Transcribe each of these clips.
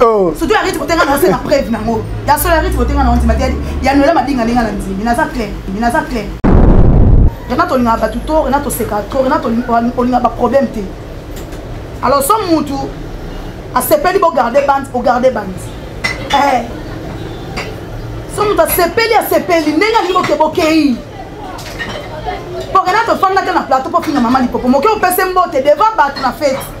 Oh. surtout ya rite kotenga na osena preuve nango ya solo ya rite kotenga na ondima te ya noela mabinga ndenge na ndimi naza clair naza clair rena tolingaka bato to rena tosekaka to rena olingaka baproblème te alors so mutu asepeli bogarde bande ogarde bande eh. so mutu asepeli asepeli ndenge alingi boke bokei po rena tofandaka na plateau po finga mama lipopo moke opese mbote devant bato na fete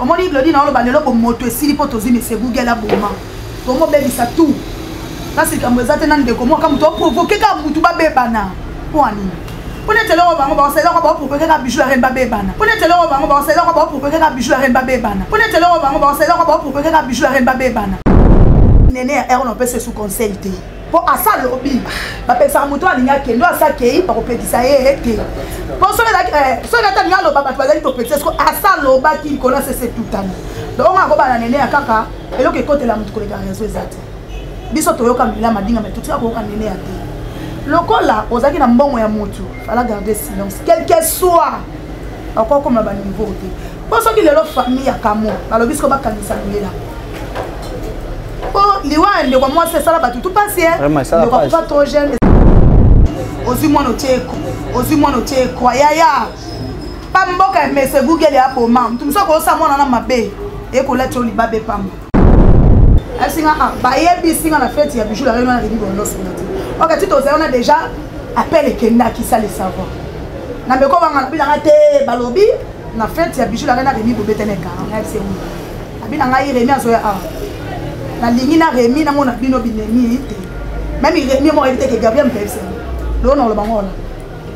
omoni glodi na oloba lelo bomoto esili mpo tozwi mese google aboma tomobebisa tout kasi likambo eza te na ndeko mwaka moto aprovoke kaka motu babebana mpo anini mpo neti eloko bango baosalelaka baoprovoke kaka bijou ya rene babebana mpo neti eloko bango baosalelaka baoprovoke kaka bijou ya rene babebana mpo neti eloko bango baosalelaka baoprovoke kaka bijou ya rene babebana nene ya erona opesa esu conseil te mpo asa alobi bapekisaka moto oyo alingi akende oyo asa akei bakopekisa ye ye te mpo soki eh, ata lingi aloba bato bazali topekisa soko asa alobaki likolo ya sese tutani donc onga akobana nene ya kaka eloko ekotela moto koleka rezo eza te biso toyoka mbila madinga mai totika koyoka nene ya te lokola ozalaki na mbongo ya motu fala garde silence quelque soit okokoma baniveau te mpo soki lelo famille ya kamo balobi siko bakangisa lela mpo liwa ya ndeko mwasi esala bato tu pasi eh. ndeko akufa trop jeune ozwi mwana otie eko ozwi mwana otie ekwa yaya pa mboka ya mese google ya boma moto mosusu akoyosa mwana na mabe ekolati yo libaba epamba asinga ah, bayebisi nga na feti ya bijou la reunion na redi bondosona te oka ti tozali wana déjà appel ekendaki sale savoir na meko banga na bilanga te balobi Na fête ya bijou la reine Remy bobeta na kara na c'est oui. Abina ngai Remy azoya awa. Na lingi na Remy na mona bino binemi te. Même Remy mo ebite ke Gabriel Mpepse. Lo na lo bangola.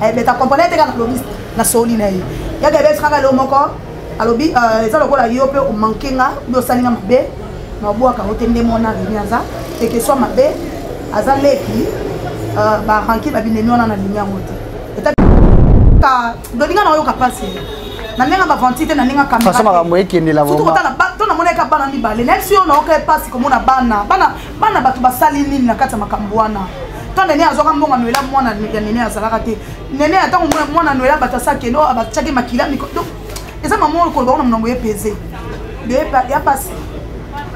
Eh beta comprendre te kana lobiste na soli na ye. Ya Gabriel saka lo moko alobi euh, eza lokola yo mpe omanke nga obi osali nga mabe na obwaka ngo te nde mwana remi aza teke swa mabe aza leki euh, baranki babinemi wana na lingi yango te ndolinga naoyoka mpasi na ndenge bavanti te na ndenge kamfaso makambo ekendela surtout kotala to namonaka bana mibale nayebi si yo naoka mpasi komona bana bana bana bato basali nini na kati ya makambo wana ntango nene azwaka mbongo noela mwana ya nene azalaka te nene ya ntango mwana noela bato asakende oyo abatyaki makila miko donc eza mama oyo koloba kuna monango ye peze ya mpasi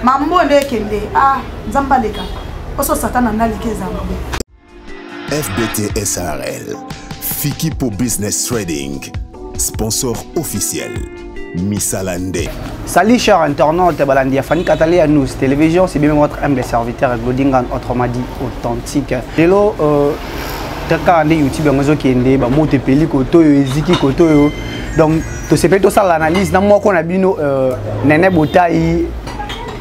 mambo nde ekende a ah, nzambe aleka oso satana nde aleki ezambe FBT SRL, Fikipo Business Trading, sponsor officiel. Misala nde. Salut chers internautes, Balandi Afani Katale à nous télévision, c'est bien votre humble serviteur Glodingan autrement dit authentique. Lelo euh kaka nde youtube yango ezokende bamoto epeli koto oyo eziki koto oyo donc tosepeli tosala analyse na moko na bino euh, nene botai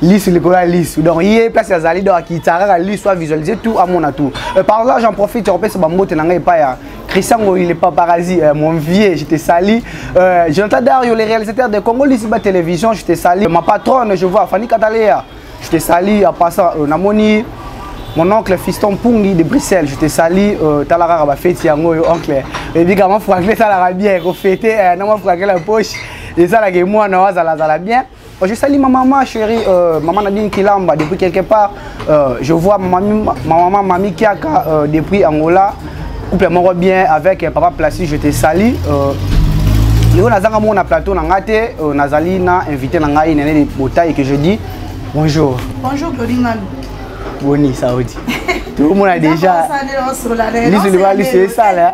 lisu likolo ya lisu donc ye place azali donc akitisa kaka lisu avisualise tout amona tout euh, par exemple j'en profite ya kopesa bambote na ngai epai ya Christian Goyi, le paparazzi, euh, mon vieux, je te salue. Euh, Jonathan Dario, le réalisateur de Congo Lissiba Télévision, je te salue. Ma patronne, je vois, Fanny Katalea, je te salue. En passant, euh, Namoni, mon oncle Fiston Pungi de Bruxelles, je te salue. Euh, Talara Rabafeti, Yango, oncle. Et puis, comment Franklin, ça l'a bien, qu'on fêtait, euh, non, Franklin, la poche. Et ça, là, que moi, non, ça l'a bien. Oh, je salue ma maman chérie, euh, maman Nadine Kilamba depuis quelque part. Euh, je vois ma, ma maman Mami Kiaka euh, depuis Angola. Couple moro bien avec euh, papa Placide, je te salue. Euh, lelo nazanga moko na plateau na ngai te euh, nazali na invité na ngai nene botai que je dis bonjour bonjour glodingano boni saudi tokomona déjà lisu liba lisu esala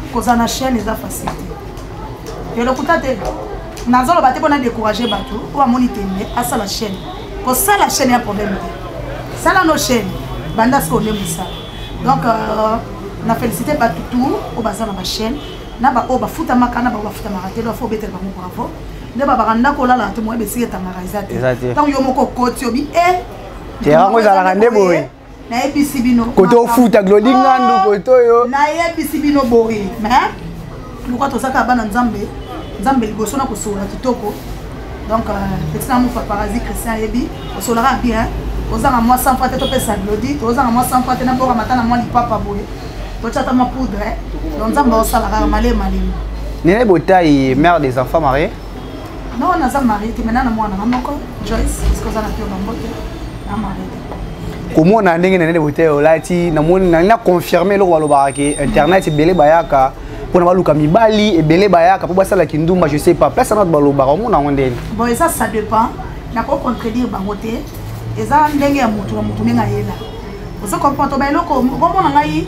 kozala na chaîne eza facile te yo lokuta te nazoloba te mpo na décourage bato oyo bamoni tembe asala chaîne kosala chaîne ya problème te sala no chaîne banda sikoyo nde mosala donc euh, na félicité bato tout oyo baza na bachaîne na baoyo bafutamaka na baoyo bafutamaka te lofo obetela bango bravo nde babaka ndako olala te moyebi esika etangaka eza te ntango yo moko okoti obi e eh, te yango ezalaka nde boye nayebisi bino kote ofuta glodi ngandu oh, kote oyo nayebisi bino boye me luka tozaka bana nzambe nzambe liboso na kosolola kitoko donc euh, petit na mofa parasi christian ayebi osolaka bien ozanga mwa sanfra te topesa glodi tozanga mwa sanfra te naboka mata na mwa lipapa boye totyata mwa poudre donc nzambe aosalaka maleye malemi nene botai mare des enfants marie non naza marie te maintenant na mwana na moko joyce parce que oza na pio na mbote na marie komona ndenge na nene bote olati namoni na na confirmer eloko balobaka ke internet ebele bayaka mpona baluka mibali ebele bayaka mpo basala kindumba je sais pas place anat balobaka omona yango ndeni bon eza ça dépend nako contredire bango te eza ndenge ya motu na motu ndenge ayela ozo comprendre toba eloko komona ngai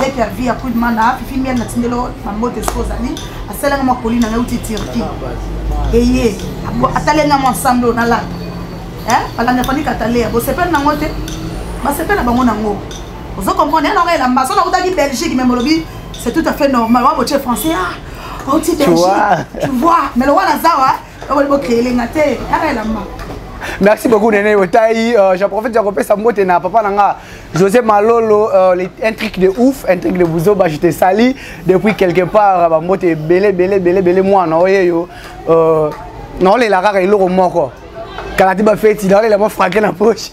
Leki ya vie ya Queen Mana, Fifi Miel na tindelo na mbote esika ozali, asalanga mwa koli na ngai uti Turquie. Eye, atalenga mwa ensemble oyo nalata. Eh, balanda fani katalea, bosepela nango te, basepela bango nango. Ozo comprendre, yana ngai elamba, soki nakutaki Belgique, mais molobi, c'est tout à fait normal, wa botie français, ah, auti Belgique, tu vois, mais le wana zawa, eh, Okoli bo créer lenga te. Ara ah, la maman. merci beaucoup nene otai euh, j'en profite ya kopesa mbote na papa na nga josé malolo euh, un truc de ouf un truc de buzoba je te sali depuis quelque part bambote ebele ebele ebele ebele mwana oyeyo euh, naolela kaka eloko moko kala ti bafeti naolela mwa frake na poche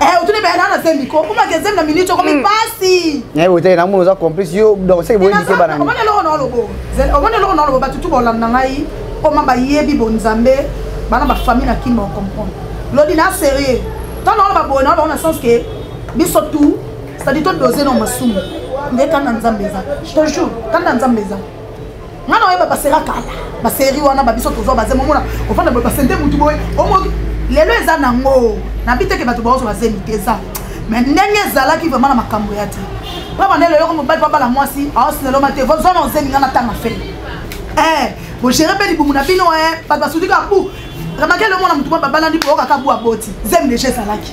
Eh, otuni baya nana zembi ko kuma ke zembi na minute okomi hmm. pasi eh ote na mono za complice yo donc c'est boye ndike bana omone loko na lobo omone loko na lobo batu tu bolanda ngai koma bayebi bonzambe bana ba famille na kimba comprendre lodi na sérieux tant na ba bona ba na sens que biso tout c'est-à-dire to doser na masumu nde kanda nzambe eza je te jure kanda nzambe eza nga na oyeba basera kala baseri wana babiso tozwa baze momona ofanda boye basende motu boye omoki lelo eza nango nabi teke bato baozwa bazemi te eza me ndenge ezalaki vraimen na makambo ya te mpo banda lelo yoko mobali babala mwasi aosineloma te zwa na ozemi nga na tanga fele eh, bogere mpe libumu na bino eh, bato basuti kaka bu remakele omona motu mwa babalandi boyoka kaka bu aboti zemi deja ezalaki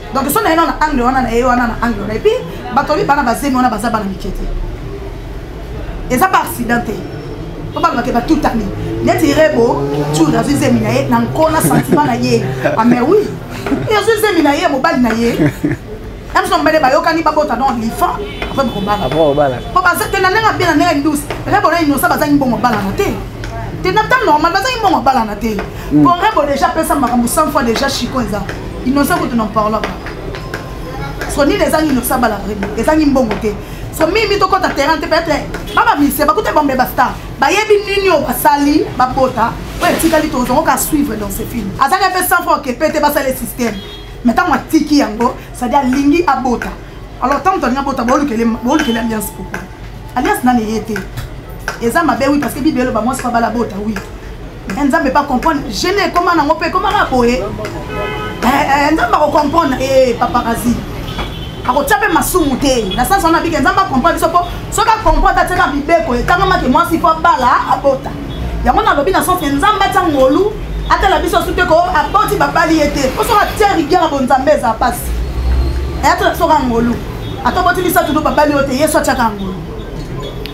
donc so naye nana angle wana naye wana na angle wana epuis bato babi bana bazemi wana baza bana mike te eza ba accident te po balobake batutani neti rebo tour azwi zemi na ye na nkona sentiment na ye ame ah, wi e azwi zemi na ye mobali na ye biso mobele bayokani babota don lifa apres bokobala po baza te na ndenge abe na ndenge ndus rebo na inosa bazangi bongo balana te te na temps normal bazangi bongo balana te mm. congrès bo déjà pesa makambo 100 fois déjà chico eza innocent kutu n'en parlant pas so nini ezangi innocent bala vraibi ezangi mbongo te so mimi tokɔta terrain te peut-être babamisi bakuta bombe bastar bayebi nini oyo basali babota oyo etikali tozongoka suivre dans ce film azali mpe 100 fois okepe te basali système mais ntango atiki yango cestadi alingi abota alors ntango tolingi abota boolukeli alliance pourkoi alliance nani eye te eza mabe wi parce que bible eloba mwasi babala bota wi eh, nzambe pa comprendre gene ekoma nango mpe ekomaka boye eh, eh, nzambe akocomprendre e paparazi akotia mpe masumu te na sansi wana bike nzambe acomprendre biso mpo soki acomprendre atika mibeko ekangamaki mwasi mpo abala abota yango nalobi na sansi nzambe atia ngolu atala biso su te ko aboti babali ye te mpo soki atia rigueur ya bonzambe eza mpasi ayatala biso ka ngolu ata oboti misato no babali yo te yesu atiaka ngolu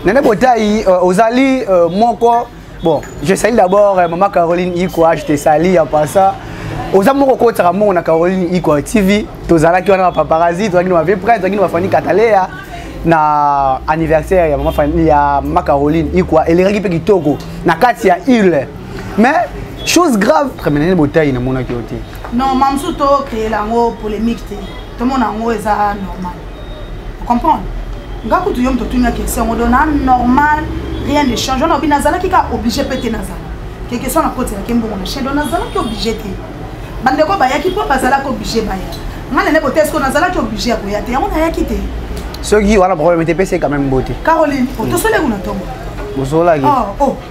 nene botai euh, ozali euh, moko Bon, je salue d'abord euh, maman Caroline Ikwa, je te salue en passant. oza moko okotisaka mbongo na caroline ikwa tv tozalaki wana bapaparazzi tozalaki na bavie près tozalaki na bafani kataleya na anniversaire ya mama fani ya mama caroline ikwa elekaki mpe kitoko na kati ya ile mais chose grave tremenene botai namonaki yo te non mamsu tokreela yango polémique te tomona yango eza normal comprendre nga kutu yo moto otuni ya question yango do na normal rien ne change wana obi nazalaki kaka oblige mpe te nazala ke question nakotelaki mbongo na chaine do nazalaki oblige te bandeko bayaki mpo bazalaki oblige baya ngai nene bote esko nazalaki oblige ya koya te yango nayaki te soki wana problème te pese quand même bote caroline otosoleki na ntongo osolaki oh, oh.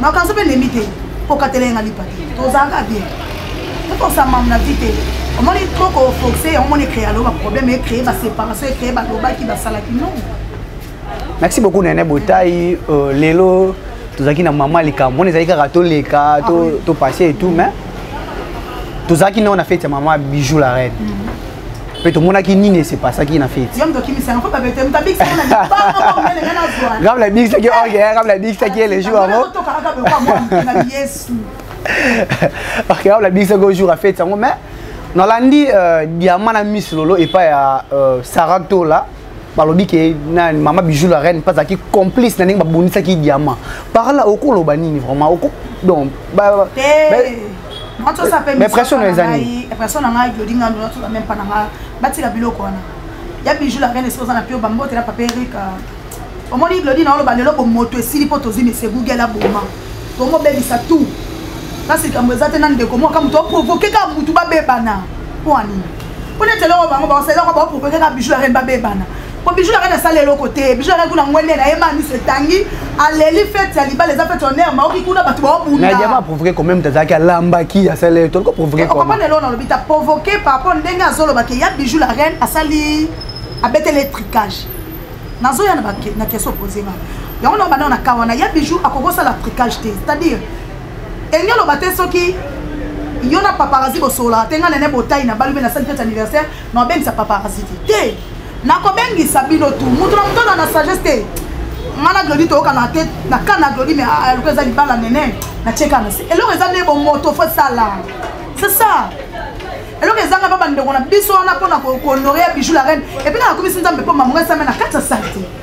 makanso mpe ndembi te kokatela ye nga lipa te tozalaka bien tokosa mamu na vi te omoni trop koforce yango moni ecree alo baproblème ecree baséparation ecree balobaki basalaki non merci beaucoup nene botai euh, lelo tozalaki na mama likambo mona ezalaki kaka toleka topasse ah et tout mais tozalaki nao na fete ya mama bijou la reine mm -hmm. mpe tomonaki nini esepasaki na feti kama nabikisaki orge kama nabikisaki ye le jour yango ok kama nabikisaki o jour ya feti yango mais nalandi euh, diama na miss lolo epai ya euh, sarah tola balobi ke na mama bijou la reine mpe azalaki complice na ndenge babundisaki diamant par là okoloba nini vraiment oko donc ba, eh, ba, mais pression na ezali pression na ngai jodi ngandu natola meme mpa na ngai batika biloko wana ya bijou la reine esi oza na pio bambotela papa erika euh, omoni glodi na oloba lelo bomoto esili mpo tozwi mese google aboma tomobebisa tout kasi likambo eza te na ndeko moko kamoto oprovoke kaka motu babebana mpo anini mpo neti eloko bango baosala eloko baopropose kaka bijou ya rene babebana mpo bijou ya rene asala eloko te bijou ya rene kuna ngwende na ye ma miso etangi aleli fete ya libala eza fete honneur maoki kuna bato baobundayaba aprovoke quand même tazalaki alambaki asala ye toliko provoke okomana eloko nalobi ta provoke par rapport ndenge azoloba ke ya bijou la reine asali abeteli etricage nazoya na question opose nga yango na banda na kawana ya bijou akoki osala tricage te c'est-à-dire elingi oloba te soki yo na paparazi bosololaka te ngai nene botai na balobi na sali fete anniversaire na obengisa paparazi te te nakobengisa bino tu moto na moto na sagesse te ngai na glodi toyokana te na kani na glodi me aloko ah, ah, eza libala nene na tiekana se eloko eza nde bomoto fo esala c'est ça eloko ezanga mpa bandeko na biso wana mpo na kohonorea bijou la reine epuis kaka komisi nzambe mpo mamonga esame na kati ya sali te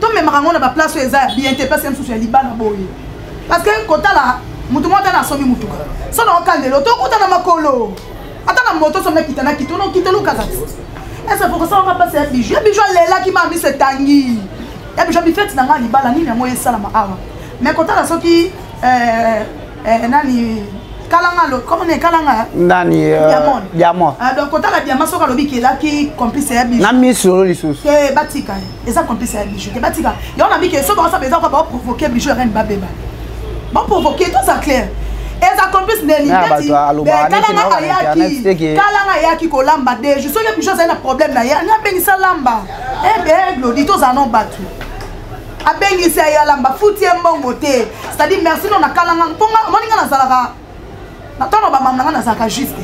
tomemaka yango na baplace oyo eza ya bien te place ya mosusu ya libana boye parce que kotala motu moko ata na asombi motuka so na okandelo tokuta na makolo ata na moto somi akita na kito nokita lukaka te ese pokosawaka mpasi ya biju ya biju alelaki maa miso etangi ya biju abifeti na ngai libala nini yango esalama awa mais kotala soki eh, eh, nani kalanga lo comment ne kalanga nani euh, diamond diamond ah, donc kotala diamond soki alobi kelaki complice ya biso na miso lisusu te batika eza complice ya bijou te batika yango na mike soki baosaba eza kaka baoprovoke bijou ya reine babeba baprovoke toza claire eza complice neni kalanga ayaki kalanga ayaki kolamba deju soki bijou azali na problème na ye abengisa lamba ebe eh glodi toza no bato abengisi ayalamba futi ye mbongo te c'est-à-dire merci no na kalanga mpo omoni nga nazalaka ntango bamama na ngai nazalaka juste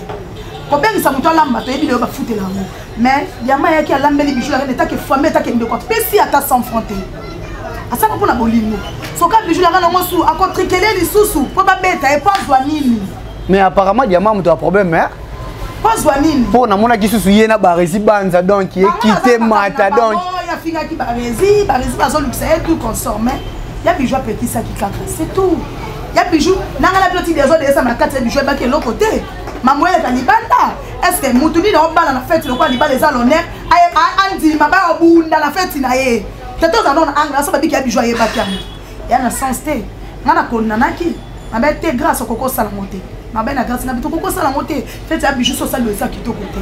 kobengisa moto alamba toyebi leyo bafutela yango mais yama ayaki alambeli bijou yaka netake fami etake ndeko apesi ata 100 franc te asaka mpo na bolingo soka bijou yaka nango su akotrikele lisusu mpo babeta ye mpo azwa nini mais apparemment diama moto ya problème eh? mpo azwa nini mpo namonaki susu ye na baresi banza donc ekite mata donc afingaki baresi baresi bazolukisa ye tout consorme ya bijou apekisaki kaka c'est tout ya bijou nanga na biloti dezo deesa na kati ya bijou ebaki eloko te mango eleka libanda estce motu nini obala na feti lokola libala eza l'honneur andima baobunda na feti na ye tete oza nona angra so babiki ya bijou ayebaki yango ya na sens te nga na konanaki mabe te grâce okokosala ngo te mabe na grâce na bito okokosala ngo te fete ya bijou sosali oyo eza kitoko te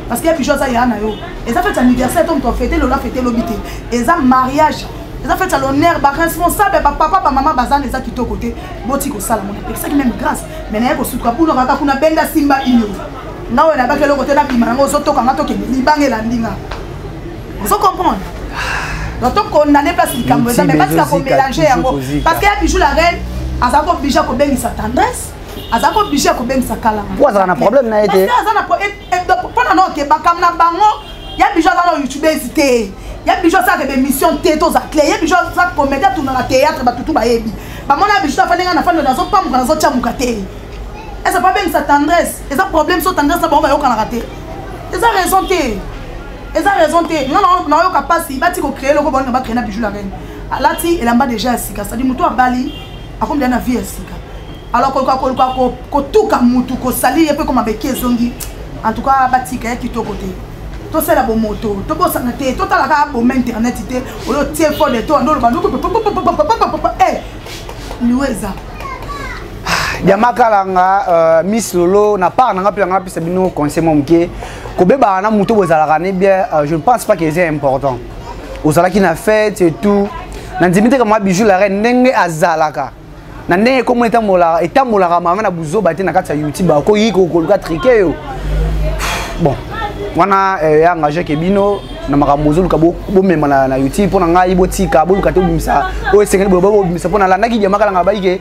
parce que ya bijou aza ya na yo eza fete anniversaire to moto afete lola fete lobi te eza mariage eza fete ya l'honneur baresponsable bapapa bamama bazana eza kitoko te boti kosala mona epekisaki meme grâce mai naye kosutuka buno kaka kuna benda simba ino nga oyo nabaki eloko te nabima yango ozotoka nga tokende libanga elandi nga ozo comprendre donc tokondane place likambo eza mai batika komelange yango parce que ya bijou la reine aza kobija kobengisa tendresse aza ko oblige ya kobengisa kala po azala na problème na ye te aza na eh, eh, mpo na noke bakambo na bango ya bijo aza na youtubese te ya bijo asalaka bemission te toza cle ye bijo aza comédie atunaka théâtre batutu bayebi bamona ya bijo afandi ngai na fandi nazopamuka nazotyamuka te eza babengisa tendresse eza problème so tendresse na bango bayokanaka te eza raison te eza raison te nga nayoka mpasi bati kocree eloko baolinga bacree na bijo la reine alati elamba deja ya sika sadi motu abali akomela na vie ya sika alors koluka koluka kotuka mutu kosali ye mpe ekoma beki ezongi en tout cas batika ya kitoko te tosala bomoto tobosana te totala kaka boma internet te oyo tie fo de to andoloba noko liwa eza diamakalanga euh, miss lolo na part nanga mpe nanga apesa bino conseil mwa moke kobebaka na moto bozalaka ne bien euh, je ne pense pas que eza important ozalaki na fete et tout nandimi te kama bijou la reine ndenge azalaka na ndenge ekomo etambolaka etambolaka manga na buzoba te na kati ya youtube akoki kokoluka trike yo bon wana eh, ya engage ke bino na makambo ozoluka bomema na youtube mpo na ngai botika boluka te obimisa oyo esengeli bobimisa mpo nalandaki diamakalanga bayike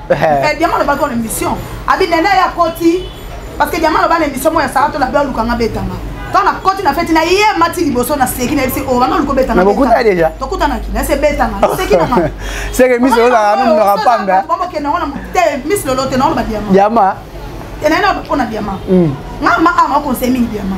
Eh, diamant alobaki ona mission abi nene ye akoti parce que diamant aloba na émission moya sara tolabi alukanga betama ntango nakoti na feti na ye mati liboso na seki na yebisi obanga oluka obetanga bokuta deja tokutanaki na se betanga naseki na ngai seke miso olozala no munaka pamba bamokenda ngo na te miso lolo te na ngo na badiama diama enaye na mpona diama nga ma ama okonseille mingi diama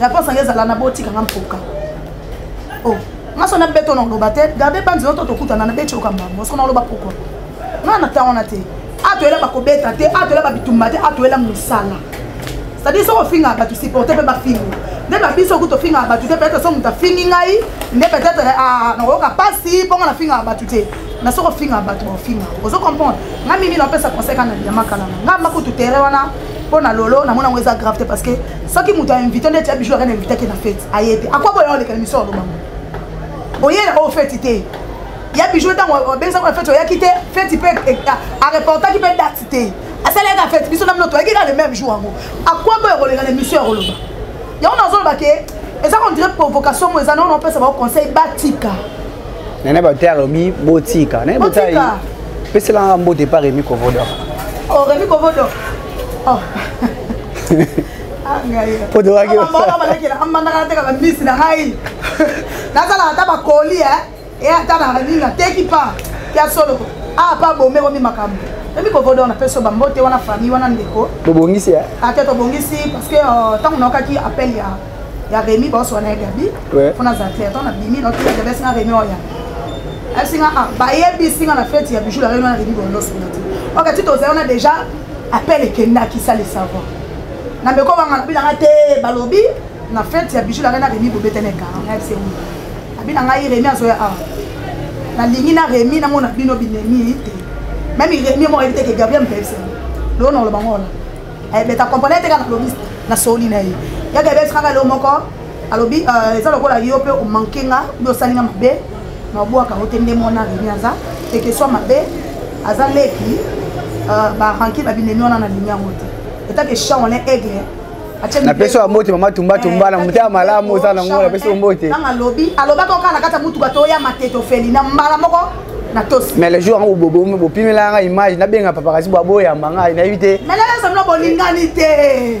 Rapport sange ezala na botika nga mpoka. Oh, maso na beto na loba te, garde pas nzela to tokutana na beto kamba. Mosko na loba pourquoi? Na na tango na te. Atoyela bakobeta te, atoyela babitumba te, atoyela mosala. C'est-à-dire soki ofingaka bato supporte mpe bafingi nde na biso kutu ofingaka bato te peut-être soki moto afingi ngai nde peut-être ah, nakoyoka mpasi mpo nga nafingaka bato te na soki ofingaka bato baofinga ozo comprendre nga mimi napesa conseil kana biyama kalanga nga makutu tere wana mpo na lolo namona yango eza grave te parce que soki moto ainvite nde tia bijou akana invite ake na fete aye te akwa boya oleka na misolo bango oye na oyo fete te ya bijou ntango obengisa kuna fete oyaki te fete mpe e, e, areportaki mpe date te asalaka fete biso na mino toyaki kaka le même jour yango akwa boya koleka na emission ya koloba yango nazoloba ke eza kondire provocation mo eza nao naopesa bao conseil batika nene bato ya lobi botika nene botika peselanga mbote epa remi kovodor o oh, remi kovodor oh. podowakiamandakalatekaka mbisi na ngai nazalaka ata bakoli e eh? ata na nini nateki pa ya solo a pa bomekomi makambo ebi kovodo na peso bambote wana famille wana ndeko bobongisi eh? ate tobongisi parce que ntango euh, naokaki appel ya ya remi baoswana ya gabi mpo nazala clair ntango nabimi naotiabesinga remi oya asinga ah, bayebisinga na feti ya bijou la remi wana remi bolosunga te ok ti tozali wana déjà appel ekendaki ça le savoir na meko banga na bilanga te balobi na fete ya bijou langa na remi bobetene kara na yebise wi abi na ngai remi azoya awa nalingi na remi namona bino binemi te meme remi moko ayebi te ke gabriel mpe yebise loo na oloba ngola ayebeta comprendre te kaka nalobi na soli na ye ya gabriel sikaka leo moko alobi euh, eza lokola yo mpe omanke nga obi osali nga mabe mabwaka yango te nde mwana remi aza ekeswa mabe aza leki euh, baranki babinemi wana na lingi yango te etake chaole aigle napesi yo mbote mama tumbatumba na motema malamu oza nango napesi yo mbote nanga alobi alobaka okala na kati ya motuka toya matete ofeli na mbala moko na tosi mais le jour yango bobomi bopimela yanga image nabenga papakasi bwaboyamba ngai nayebi te mais lelesomino bolingani te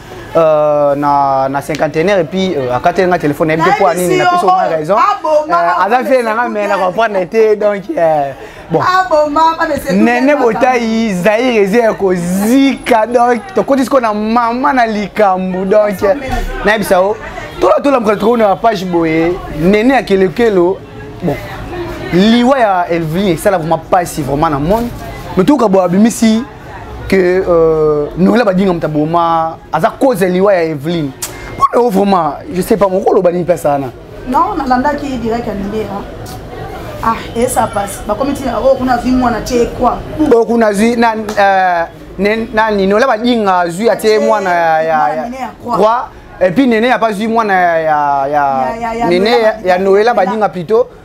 Euh, na, na cinquantenaire et puis euh, akateli nga téléphone nayebi te mpo ya nini napesi oma raison euh, aza fie nanga mai na comprendre te donc euh, bon nene botai zaire eza ya kozika donc tokoti sikoyo na mama na likambo donc nayebisa yo tolatola mokolo tokomona na page boye nene ya kelekelo bon liwa ya elvin esala vraimen mpasi vraiment na monde mais tokoka boye abimisi que euh, noela badinga moto aboma aza cause ya liwa ya eveline mpona yo vraiment je sais pas moko oloba nini mpesa wana non nalandaki direct ya mindera ah esa pasi bakomi ntina oyo oh, kuna azwi mwana tie kwa oyo oh, kuna azwi na euh, nani noela badinga azwi atie mwana ya roi epuis nene apazwi mwana ya nene ya noela badinga plutôt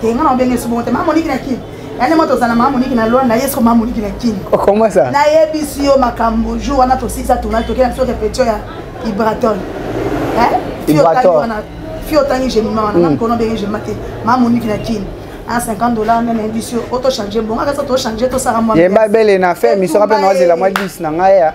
te nga na obenge su bongo te mama moniki na kin yande moto ozala mama moniki na lwanda ye soko mama moniki na kin okomasa nayebisi yo makambo jour wana tosisa tournal tokenda biso repetio ya ibraton fi otangi gemima wana nga mikono obenge gemima te mama moniki na kin a 50 dollars meme yebisi yo oto change bongo akasa tochange tosala mwa yemba bele na fe misoko mpe naozela mwa 10 na ngai ya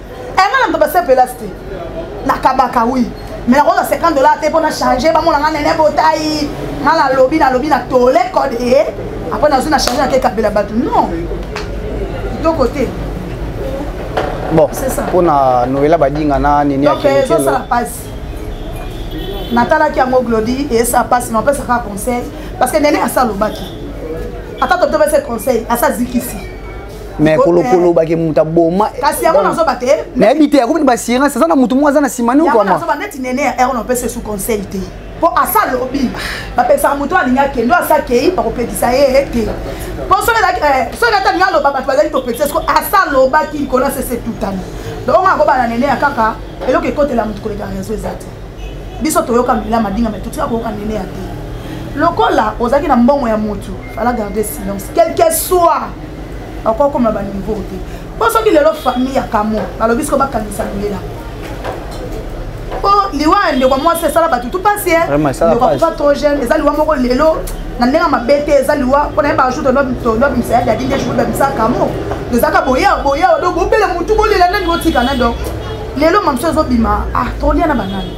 enga na moto basepelas te nakabaka wi me nakozwa 50 dollar te mpo na change bamona nga nene botai nga nalobi nalobi na tole code e apres nazwi na change nake kabela bato non kitoko te bon mpo na noela badinga na nini donc ezosala mpasi natalaki yango glodi esa mpasi napesa kaka conseil parce que nene asa alobaki ata totobese conseil asa azikisi mais kolokoloba ke moto aboma kasi yango nazoba te nayebi te yakobi ba sirance aza na moto moko aza na nsima niokoazoba neti nene ya erne opesa esu conseil te mpo asa alobi bapekisaka moto alingi akende oyo asa akei bakopekisa ye ye te mpo soki eh, ata lingi aloba bato bazali topekisa siko asa alobaki likolo asese tutani donc ongo akoba na nene ya kaka eloko ekotela moto koleka rezo eza te biso toyoka mbila madinga mai totika koyoka nene ya te lokola ozalaki na mbongo ya motu fala garde silence quelque soit akoki akoma ba niveau te mpo soki lelo famille ya kamo balobi siko bakangisa loyela mpo liwa ya ndeko mwasi esala bato tu pasi eh. ndeko akufa trop jeune eza liwa moko lelo na ndenge mabe te eza liwa mpo na ye bajour tondobimisa ya dadi nde jour babimisa kamo ezaka boya boya do bobele motu bolela nani botika nani donc lelo mamso ezobima ah tolia na banani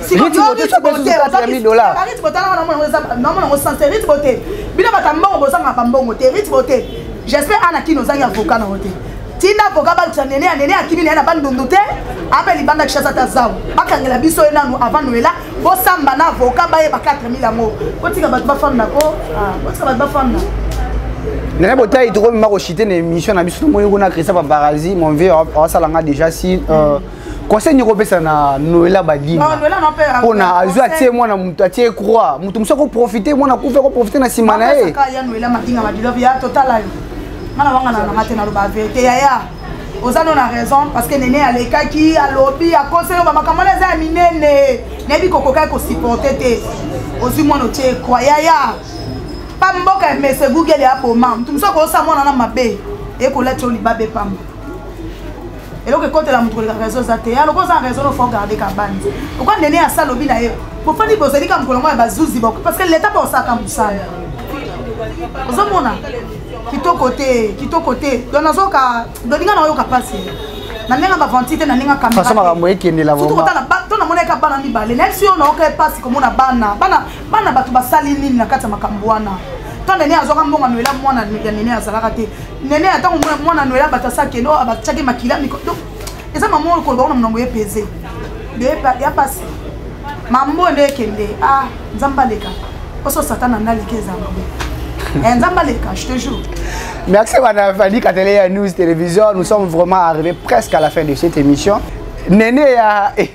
bino bata mbongo bozanga bambongo te ritbo te j'espère ana kino ozangi avoka nango te tinda avoka balukisa nene ya nene akimi naye na bandundu te ape libanda kishasa ata zau bakangela biso ye nanu avant noela bosamba na avoka bayeba 4000 yango kotika bato bafanda ko ah, kotika bato bafanda nene botai tokomema koshite na émission na biso tomoyi kuna christophe paralisi mon vieux awasala nga déjà si euh, conseil nini okopesa na noela badima mpona azwi atie mwana moto atie croix moto mosusu akoprofite mwana akufi akoprofite na nsima na ye mwana wangana nanga te naloba verité yaya oza no na raison parce que nene alekaki alobi akoselo bamakambo wana eza ya minene nayebi kokokaki kosupporte te ozwi mwana otie croix yaya pa mboka mese google aboma moto mosusu akoyosa mwana na mabe ekolati yo libabe pamba eloko ekotela moto koleka raison eza te ya lokola oza na raison nofo garde kabani pourkoi nene ya sa lobi na ye bofandi bozali ka mokolo yango ya bazuzi boko parce que leta baosalaka mosala ozomona kitoko te kitoko te don nazoka doninga naoyoka mpasi na ndenge bavanti te na ndenge kamera makambo ekendela to namonaka bana mibale nayebi si yo naoka mpasi komona bana bana bana bato basali nini na kati ya makambo wana ntan nene azwaka mbongo anoela mwana ya nene azalaka te nene ya ntango mwana anoela bato asakende oyo abatyaki makila miko donc eza mama oyo koloba kuna monango epeze ya pasi mambo nde ekende ah nzambe aleka oso satana nde aleki eza mabe eh, nzambe aleka je te jure merci madame fadi katele ya news télévision nous sommes vraiment arrivé presque à la fin de cette émission nene ya eh.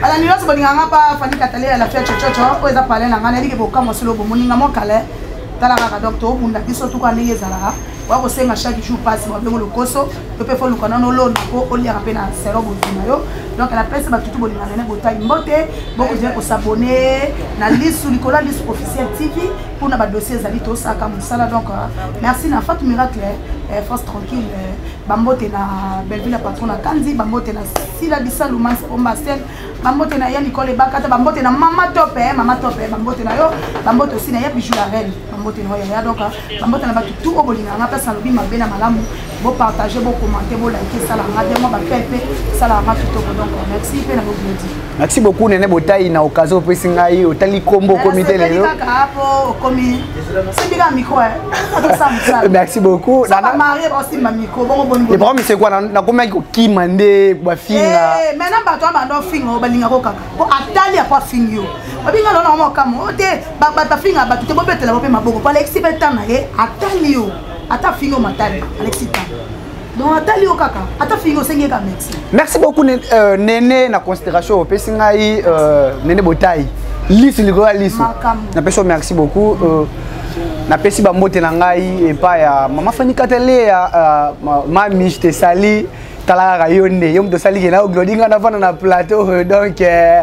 balandi nyonso bolinga nga pa fani katale ya lafia cococo oyo eza pale na nga nayebi ke bokamwa solo bomoninga mo kale tala kaka donc tobunda biso tuka ndenge ezalaka oya kosenga chaque jour mpasi babengo lokoso to mpe foluka nano olona mpo oliaka mpe na sero bozwi na yo donc na pesi batutu bolinga nene botai mbote bokozali kosabone na lisu likolo ya lisu officiel tv mpo na badossier ezali tosaka mosala donc euh, merci na fatu miracle euh, force tranquille euh, bambote na belleville ya patron na kanzi bambote na sila bisalu manse bombastel bambote na ya likole bakata bambote na mama tope eh, mama tope eh, bambote na yo bambote osi na ya bijou la reine bambote na yo yaya donc ah, bambote na bato tout oyo bolingaka nga place nalobi mabe na malamu bopartage bokommente bolike esalaka nga bien mwa bapel mpe esalaka nga kitoko donc ah, merci mpe na bobledi merci beaucoup nene botai na occasion opesi ngai otali nkombo okomi te lelo ah, okomi merci beaucoup le problème c'est quoi nakomaki kokima nde bafinga eh, maintenant bato ya banda ofinga o balingaka okaka po atali apo afingi yo babinga lona oma okamo o te bato afinga bato te bobetela bo mpe maboko po alekisi mpe ntan na ye atali yo ata afingi yo matali alekisi ntan donc atali yo kaka ata fingi osengi ye ka merci merci beaucoup euh, nene na considération opesi ngai euh, nene botai lisu likolo ya lisu napesi yo merci beaucoup euh, napesi bambote na ngai epai ya mama fanikatele ya euh, mami je te sali tala kaka yo nde yo moto osali ke nayo glodi ngai navanda na plateau donc euh,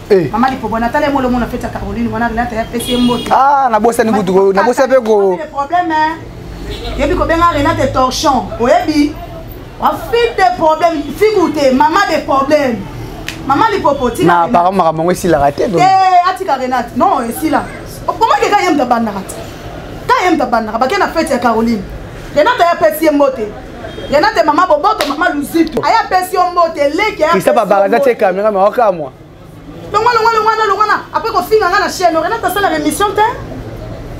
Eh. mama lipobo natala ye molongo na feti ya caroline wana renata ya pesi ye mbote ah, nabosani kutu nabosa mpe ko problème yebi kobenga renate torchon oyebi afite de problème figu te mama de problème mama lipopo tina apparemment makambo yango esilaka te eh, atika renate non esila okomaki ka ye moto abandaka te ka ye moto abandaka bake na feti ya caroline renate ya pesi ye mbote yana te mama boboto mama luzitu aya apesi yo mbote leki isa babaraza te kamera ma wakamwa longwa longwa longwa na longwa na apres kofinga nga na chaîne renate asalaka émission te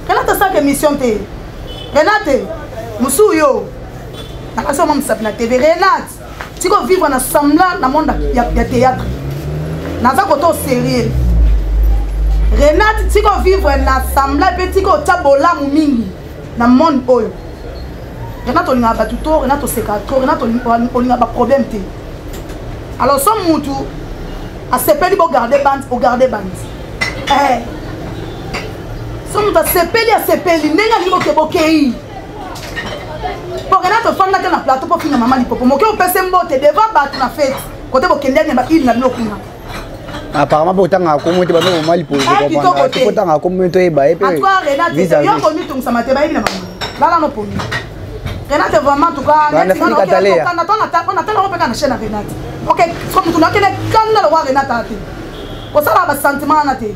renate asalaka émission te renate mosusu yo nakasi oma mosapi na tv renate tiko vivre na semblant na monde ya, ya théâtre naza kota o sérieux renate tiko vivre na semblant mpe tiko otya bolamu mingi na monde oyo rena tolingaka bato to rena tosekaka to rena olingaka baproblème te alors so mutu asepeli bogarde bande ogarde bande eh. so mutu asepeli asepeli ndenge alingi boke bokei po rena tofandaka na plateau mpo finga mama lipopo moke opese mbote devant bato na fete kote bokendani ya baile na bino kuna apparemment mpe otangaka komo te bamoko mwa lipootangaka komo te oyeba ye mpeyooko mitungisama te bayebi na bango lala no pongi renate vraiment tukanatangako mpe ka na chaine ya renate ok soki motu nakende kanda lokwa renate ate kosala basentiment wana te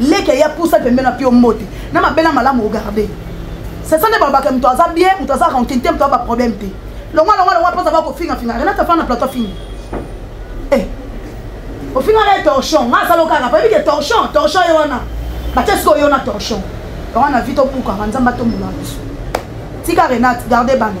leke ya pusa pembeni apio mbote na mabela malamu ogarde sesa nde balobaka moto aza bien moto aza rancune te moto aza baproblème te longwa longwa longwa mposa ba kofingafinga renate afana na plateau afingi eh, ofingaka ye torchon nga asala okaka payebi ke torchon torchon ye wana batie sikoyo yo na torchon yango na vi tobukaka nzambe atombola biso tika renate garde bana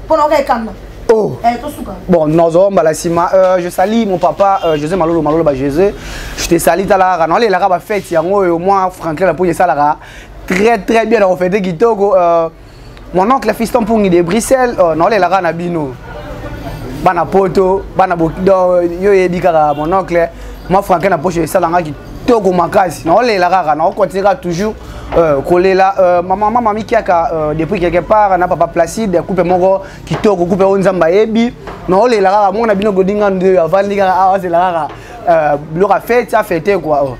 pona oka ekanga Oh. Eh, bon, Nozo Mbalassima, euh, je salue mon papa euh, José Malolo Malolo ba José. Je te salue talara. Non, les lara ba fête yango au moins Franklin la poye salara. Très très bien on fait des kitoko euh, mon oncle Fiston Pungi de Bruxelles, euh, non les lara na bino. Bana poto, bana bokido, yo yebi kaka mon oncle. Moi Franklin na poche salanga toko makasi naolela kaka naokontinue kaka toujours euh, kolela euh, mama mama mikiaka euh, depuis quelque part na papa placide coupe moko kitoko coupe oyo nzambe ayebi naolela kaka moko na bino godinga nde avandi kaka awa azela kaka euh, biloko afeti afete kua oh.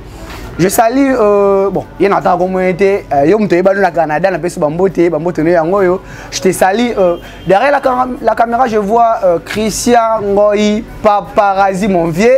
je sali euh, bon ye na ataka komoye te euh, yo moto oyebani na canada napesi bambote bambote no yango oyo je te sali euh, derrière la, la caméra je vois euh, christian ngoi paparazi mon vieux